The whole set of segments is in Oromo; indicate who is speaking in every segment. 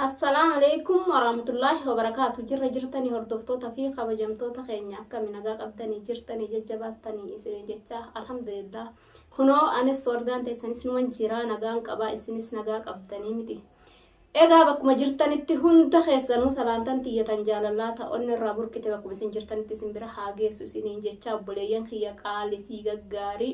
Speaker 1: Assalaamu alaikum warahmatullaahi wabarakaatu jirra jirtanii hordoftoota fi kabajamtoota keenya akkami nagaa qabdanii jirtanii jajjabaattanii isinii jecha alhamdulillah kunoo anis wardaan teessanis numan jiraa nagaan qabaa isinis nagaa qabdanii miti egaa bakkuma jirtanitti hunda keessanuu salaantan tiyyatan jaalallaa ta'onni irraa burqite bakkuma isin jirtanitti isin bira haa geessu isiniin jecha obboleeyyan kiyya qaalii fi gaggaarii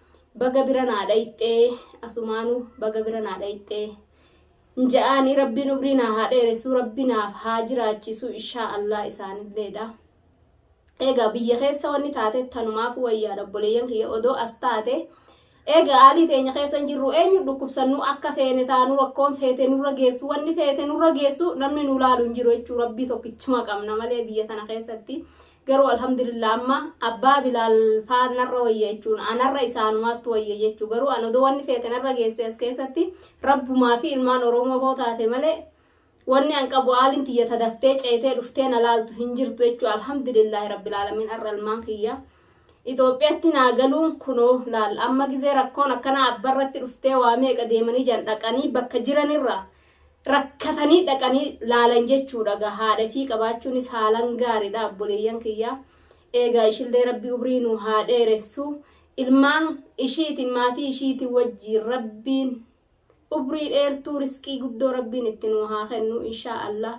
Speaker 1: baga bira naa dhayxee asumaanu baga bira naa dhayxee nja'aanii rabbiin umrii naa haa dheeressuu rabbi naaf haa jiraachisuu ishaa allaa isaanilleedha egaa biyya keessa wanni taateef tanumaaf wayyaadha obboleeyyan kiyya odoo as taate egaa haalii teenya keessa hin jirru eenyu dhukkubsannu akka feene taanu rakkoon feete nurra geessu wanni feete nurra geessu namni nu laalu hin jiru jechuu rabbii tokkichuma qabna malee biyya tana keessatti Garuu alhamdulillah amma abbaa bilaal faa narra wayya jechuun anarra isaanumaattu wayya jechuu garuu an odoo wanni feete narra geesse as keessatti rabbumaa fi ilmaan oromoo hoo taate malee wanni an qabu aaliin tiyya tadaftee ceetee dhuftee na laaltu hin jirtu jechuu alhamdulillah rabbil aalamiin arra ilmaan kiyya Itoophiyaatti naa galuun kunoo laal amma gizee rakkoon akkana abbarratti dhuftee waa meeqa deemanii jan dhaqanii bakka jiranirra rakkatanii dhaqanii laalan jechuudha gaa haadha fi qabaachuunis haalan gaariidha abboleeyyan kiyyaa eegaa ishillee rabbi umrii nu haa dheeressu ilmaan ishiiti maatii ishiiti wajjiin rabbiin umrii dheertuu risqii guddoo rabbiin itti nu haa kennu inshaa allah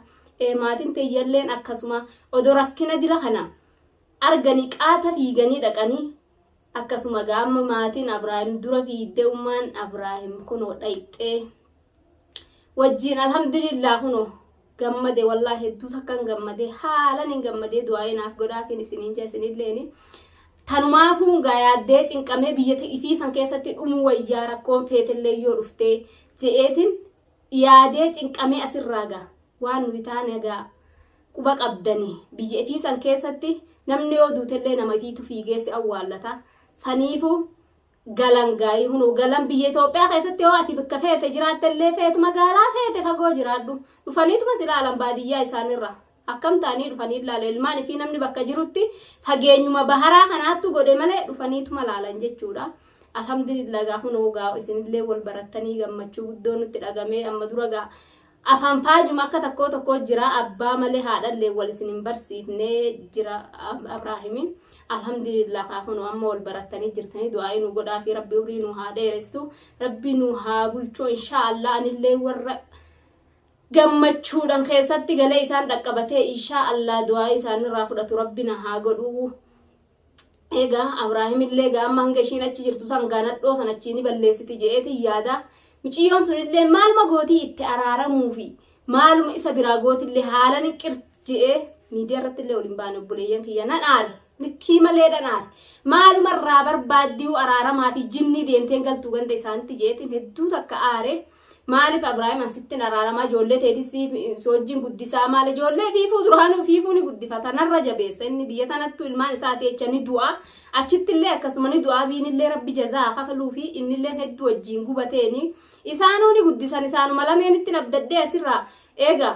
Speaker 1: ee maatiin teeyyalleen akkasuma odoo rakkina dila kana arganii qaata fiiganii dhaqanii Akkasuma gaa amma maatiin Abraahim dura fiiddee ummaan Abraahim kunoo dhayxee wajjiin alhamdulillah kunoo gammade wallaa hedduu takkan gammade haalan hin gammadee du'aa'ee naaf godhaafiin isiniin jaa isinilleeni tanumaafuu gaa yaaddee cinqamee biyya ifii san keessatti dhumuu wayyaa rakkoon feetillee yoo dhuftee je'eetiin yaadee cinqamee asirraa gaa waan nuyi taane gaa Quba qabdanii biyya ifii san keessatti namni yoo duutellee nama ifiitu fiigeessi awwaallata. Saniifu galan gaayii hunoo galan biyya Itoophiyaa keessatti yoo ati bakka feete jiraattellee feetu magaalaa feete fagoo jiraadhu. Dhufaniituma si laalan baadiyyaa isaanirra. Akkam ta'anii dhufanii ilaala ilmaan ifii namni bakka jirutti fageenyuma baharaa kanaattu godhe malee dhufaniituma laalan jechuudha. Alhamdulillah gaa hunoo gaa isinillee wal barattanii gammachuu guddoo nutti dhagamee amma dura gaa Afaan faajuma akka takkoo tokkoo jira abbaa malee haadhallee wal isin hin barsiifnee jira Abraahimi. Alhamdulillah kaa kunoo amma wal barattanii jirtanii du'aa'ii nu godhaa fi rabbi umrii nu haa dheeressu rabbi nu haa bulchoo inshaa Allah anillee warra gammachuudhaan keessatti galee isaan dhaqqabatee inshaa Allah du'aa'ii isaanirraa fudhatu rabbi na haa godhuu. Egaa Abraahimillee gaamma hanga ishiin achi jirtu san gaanadhoo san achii ni balleessiti je'eetiin yaada. Miciyyoon sunillee maaluma gootii itti araaramuufi maaluma isa biraa gootillee haala ni qir je'ee miidiyaa irratti illee waliin baane obboleeyyan kiyya nan aare. Likkii malee nan aare. Maaluma irraa barbaaddiyuu araaramaa fi jinnii deemteen galtuu ganda isaanitti je'eetiin hedduu takka aare. Maaliif Abrahaam asitti hin araaramaa ijoollee teetis soojjiin guddisaa maal ijoollee fiifuu duraanuu fiifuu ni guddifata narra jabeessa inni biyya tanattuu ilmaan isaati jecha ni du'a achittillee akkasuma ni du'a biinillee rabbi jazaa kafaluu fi innillee hedduu wajjiin gubateeni isaanuu ni guddisan isaanuma lameenitti abdaddee asirraa eega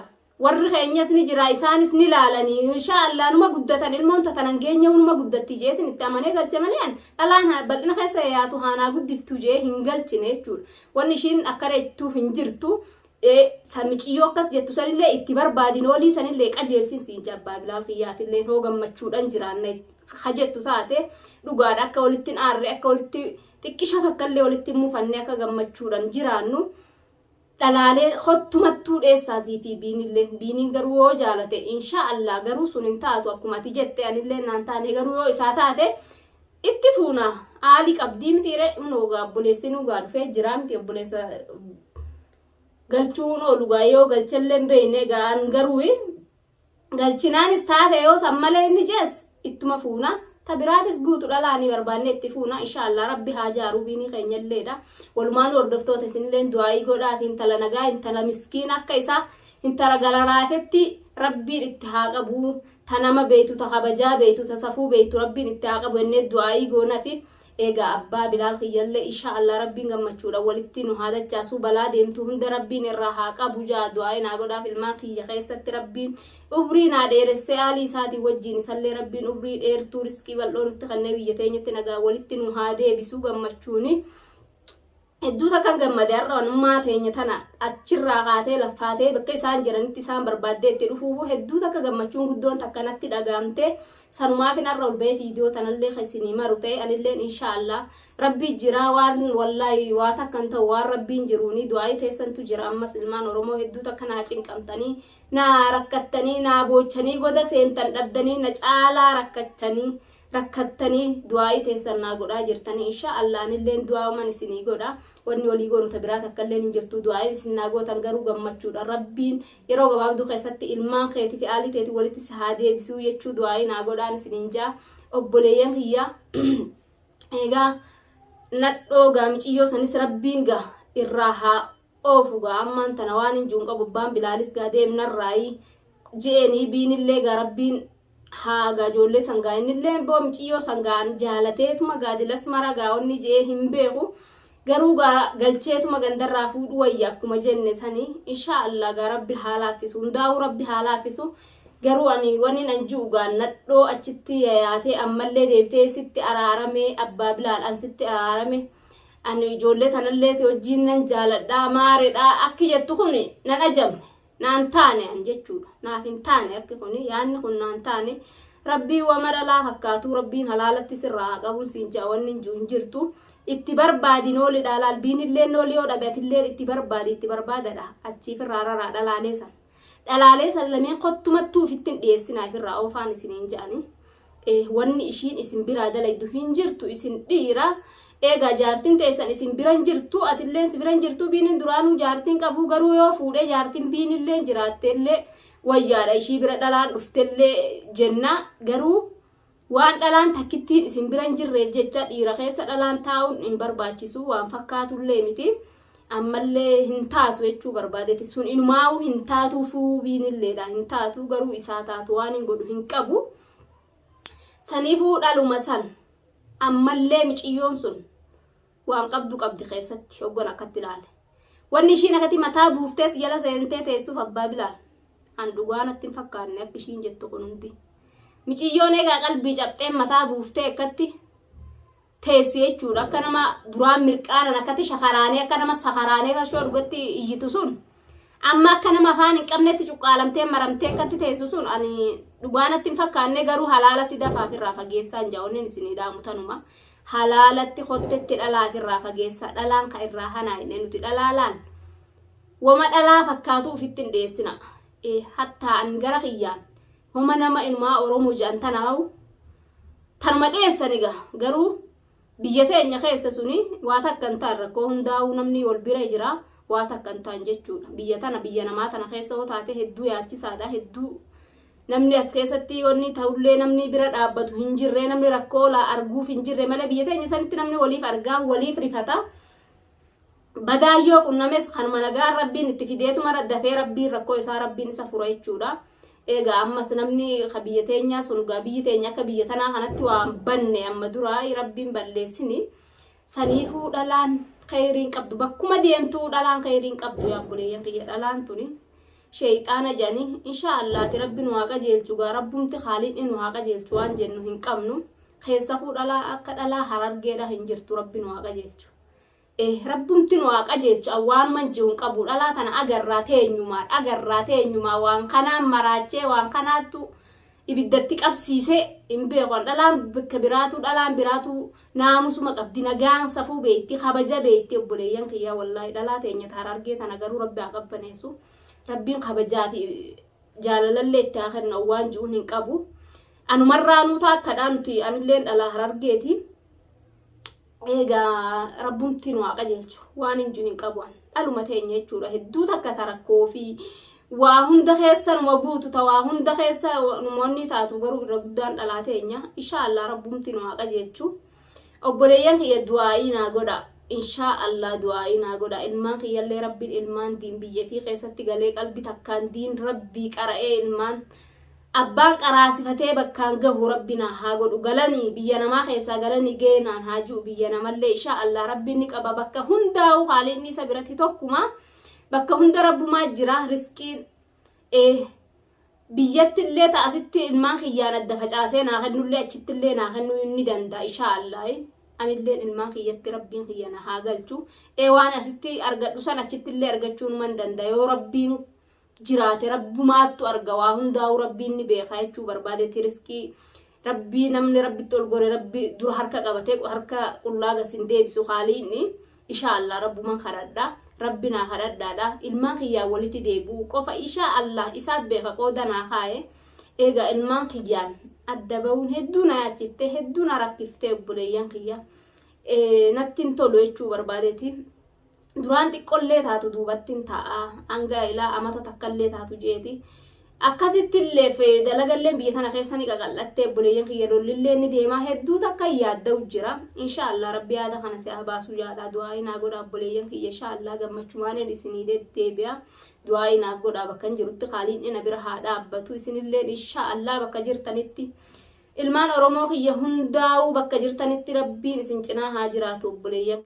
Speaker 1: warri keenyas ni jira isaanis ni laalani inshaa allah numa guddatan ilmoon tatanan geenya numa guddatti jeetin itti amanee galche malee an dhalaan haa- bal'ina keessa yaatu haanaa guddiftu jee hin galchine jechuudha wanni ishiin akkana jettuuf hin jirtu ee, san miciyyoo akkas jettu sanillee itti barbaadin olii sanillee qajeelchin siin jabbaa bilaal kiyyaatillee hoo gammachuudhan jiraanna ha jettu taate dhugaadha akka walitti hin aarre akka walitti xiqqisha takkallee walitti hin mufanne akka gammachuudhan jiraannu dhalaalee kottu mattuu dheessaa sii fi biinillee biiniin garuu yoo jaalate inshaa allah garuu sun hin taatu akkuma ati jette anillee naan taane garuu yoo isaa taate itti fuuna aali qabdii mitiire immoo gaa obboleessi nu gaa dhufee jiraa miti obboleessa galchuun oolu gaa yoo galchallee hin beekne gaa an garuu galchinaanis taate yoo san malee inni jees ittuma fuuna ta biraatis guutu dhalaanii barbaanne itti fuuna inshaallah rabbi haa jaaruu biinii keenyalleedha walumaan hordoftoota isinilleen du'aayii godhaaf intala nagaa intala miskiin akka isaa intala galalaafetti rabbiin itti haa qabu ta nama beeytu ta kabajaa beeytu ta safuu beeytu rabbiin itti haa qabu ennee du'aayii goonafi Eegaa abbaa bilaal kiyyallee ishaa Allah rabbiin gammachuudhan walitti nu haa dachaasuu balaa deemtu hunda rabbiin irraa haa qabu jaa du'aayi naa godhaaf ilmaan kiyya keessatti rabbiin umrii naa dheeressee aalii isaatii wajjiin isallee rabbiin umrii dheertuu riskii bal'oo nutti kannee biyya teenyatti nagaa walitti nu haa deebisuu gammachuuni Hedduu takkan gammade har'a wanummaa teenya tana achirraa kaatee laffaatee bakka isaan jiranitti isaan barbaaddee itti dhufuufu hedduu takka gammachuun guddoon takka natti dhagaamte sanumaafin har'a ol ba'ee viidiyoo tanallee keessanii maru ta'e anilleen inshaallah rabbii jiraa waan wallaahi waa takkan ta'u waan rabbiin jiruuni du'aa'ii teessantu jira ammas ilmaan oromoo hedduu takka naa cinqamtanii naa rakkattanii naa boochanii goda seentan dhabdanii na caalaa rakkachanii rakkattanii du'aa'ii teessan naa godhaa jirtanii insha Allah anilleen du'aa'uman isinii godha wanni olii goonu ta biraa takka illeen hin jirtu du'aa'iin isin naa gootan garuu gammachuudha rabbiin yeroo gabaabduu keessatti ilmaan keetii fi aalii teetii walitti si haa deebisuu jechuu du'aa'ii naa godhaan isiniin jaa obboleeyyan kiyya egaa nadhoo gaa miciyyoo sanis rabbiin gaa irraa haa oofu gaa ammaan tana waan hin jiru hin qabu abbaan bilaalis gaa deemnarraayii je'eenii biinillee gaa rabbiin haaga ijoollee sangaa innillee boo miciyyoo sangaan jaalateetuma gaadilas mara gaa'onni je'ee hin beeku garuu gaa galcheetuma gandarraa fuudhu wayya akkuma jenne sanii inshaa allah gaa rabbi haa laaffisu hundaa'uu rabbi haa laaffisu garuu ani waniin an ji'u gaa nadhoo achitti yayaatee ammallee deebitee sitti araaramee abbaa bilaadhaan sitti araarame ani ijoollee tanallee si wajjiin nan jaaladhaa maaredhaa akki jettu kun nan ajamne naan taane an jechuudha naaf hin taane akki kun yaanni kun naan taane rabbii wa mara laa fakkaatuu rabbiin halaalatti sirraa haa qabuun siin ja'a wanni hin jiru hin jirtu itti barbaadi nooli dhaalaal biinillee nooli yoo dhabe atillee itti barbaadi itti barbaadadha achiif irraa raraa dhalaalee san dhalaalee san lameen kottumattuu ofittiin dhiyeessinaaf irraa oofaan isiniin ja'anii wanni ishiin isin biraa dalaydu hin jirtu isin dhiira eegaa jaartiin teessan isin biran jirtu atilleen si biran jirtu biinin duraanuu jaartiin qabuu garuu yoo fuudhee jaartiin biinilleen jiraatteellee wayyaadha ishii bira dhalaan dhuftellee jenna garuu waan dhalaan takkittiin isin biran jirreef jecha dhiira keessa dhalaan taa'uun hin barbaachisu waan fakkaatullee miti. ammallee hin taatu jechuu barbaadeti sun inumaa'uu hin taatuu fuubiinilleedha hin taatuu garuu isaa taatu waan hin godhu hin qabu saniifuu dhaluma san ammallee miciyyoon sun waan qabdu qabdi keessatti hoggan akkatti ilaale wanni ishiin akkatti mataa buuftees jala seentee teessuuf abbaa bilaal an dhugaa natti hin fakkaanne akka ishiin jettu kun hundi miciyyoon egaa qalbii cabxeen mataa buuftee akkatti teessi jechuudha akka nama duraan mirqaanan akkatti shakaraanee akka nama sakaraanee farshoo dhugatti iyyitu sun amma akka nama afaan hin qabnetti cuqqaalamtee maramtee akkatti teessu sun ani dhugaanatti hin fakkaanne garuu halaalatti dafaa ofirraa fageessaan jaa'onnen isinii dhaamu tanuma halaalatti kottetti dhalaa ofirraa fageessaa dhalaan ka irraa hanaa hin nuti dhalaalaan wama dhalaa fakkaatuu ofitti hin dhiyeessina hattaa an gara kiyyaan Homa nama ilmaa Oromoo jedhan tanaawu tanuma dheessani ga garuu biyya teenya keessa suni waa takka hin ta'an rakkoo hundaa'uu namni wal bira jira waa takka hin ta'an jechuudha. Biyya tana biyya namaa tana keessa yoo taate hedduu yaachisaadha hedduu namni as keessatti wanni ta'ullee namni bira dhaabbatu hin jirre namni rakkoo laa arguuf hin jirre malee biyya teenya sanitti namni waliif argaa waliif rifata. Badaan yoo qunnames kanuma nagaan rabbiin itti fideetumara dafee rabbiin rakkoo isaa rabbiin isa fura jechuudha. Egaa ammas namni ka biyya teenyaa sun gaa biyyi teenya akka biyya tanaa kanatti waan banne amma duraa rabbiin balleessini. Saniifuu dhalaan kheyriin qabdu bakkuma deemtuu dhalaan kheyriin qabdu yaa buleeyyan kiyya dhalaan tuni. Sheeyxaana jedhanii inshaa allaati rabbi nu haa qajeelchu gaa rabbumti haaliin nu haa qajeelchu waan jennu hin qabnu. Keessafuu dhalaa akka dhalaa harargeedha hin jirtu rabbi nu haa qajeelchu. Eeh rabbumti nu haa qajeelchu an waanuman je'u hin qabu dhalaa tana agarraa teenyumaan agarraa teenyumaa waan kanaan maraachee waan kanaattu ibiddatti qabsiise hin beeku an dhalaan bakka biraatu dhalaan biraatu naamusuma qabdi nagaan safuu beeyti kabaja beeyti obboleeyyan kiyyaa wallaahi dhalaa teenya taara argee tana garuu rabbi haa qabbaneessu rabbiin kabajaa fi jaalalallee itti haa kennu an waan je'uun hin qabu anumarraa nuutaa akkadhaa nuti anilleen dhalaa harargeeti Eegaa rabbumti nu haa qajeelchu waan hin jiru hin qabu an dhaluma teenya jechuudha hedduu takka ta rakkoo fi waa hunda keessa numa buutu ta waa hunda keessa numoonni taatu garuu irra guddaan dhalaa teenya inshaa allah rabbumti nu haa qajeelchu obboleeyyan kiyya du'aa'ii naa godha inshaa allah du'aa'ii naa godha ilmaan kiyyallee rabbiin ilmaan diin biyya fi keessatti galee qalbi takkaan diin rabbii qara'ee ilmaan Abbaan qaraasifatee bakkaan gahu rabbi naa haa godhu galani biyya namaa keessaa galani gee naan haa ji'u biyya namallee ishaa Allah rabbi ni qaba bakka hundaa'u haaliinni isa biratti tokkuma bakka hunda rabbumaa jira risqiin ee biyyattillee ta asitti ilmaan kiyyaan adda facaasee naa kennullee achittillee naa kennuu ni danda'a ishaa Allah anilleen ilmaan kiyyatti rabbiin kiyya na haa galchu ee waan asitti argadhu san achittillee argachuun man danda'a yoo rabbiin jiraate rabbumaattu arga waa hundaa'uu rabbiin ni beekaa jechuu barbaadeeti riskii rabbii namni rabbitti ol gore rabbi dura harka qabatee harka qullaa gasin deebisu haaliinni ishaa allah rabbuman kadhadha rabbi naa kadhadhaadha ilmaan kiyyaan walitti deebi'u qofa ishaa allah isaa beeka qooda naa kaa'e eegaa ilmaan kiyyaan adda ba'uun hedduu na yaachiftee hedduu na rakkiftee obboleeyyan kiyya nattiin tolu jechuu barbaadeeti duraan xiqqollee taatu duubattiin taa'aa hanga ilaa amata takkallee taatu jeeti. Akkasittillee fi dalagalleen biyya tana keessa ni qaqal'attee obboleeyyan kiyya lollillee ni deemaa hedduu takka yaadda'u jira. Inshaallah rabbi yaada kana si haa baasuu jaalaa du'aa'ii naa godhaa obboleeyyan kiyya inshaallah gammachumaaniin isinii deddeebi'a. Du'aa'ii naaf godhaa bakka hin jirutti qaaliin dhina bira haa dhaabbatu isinillee inshaallah bakka jirtanitti. Ilmaan Oromoo kiyya hundaa'uu bakka jirtanitti rabbiin isin cinaa haa jiraatu obboleeyyan.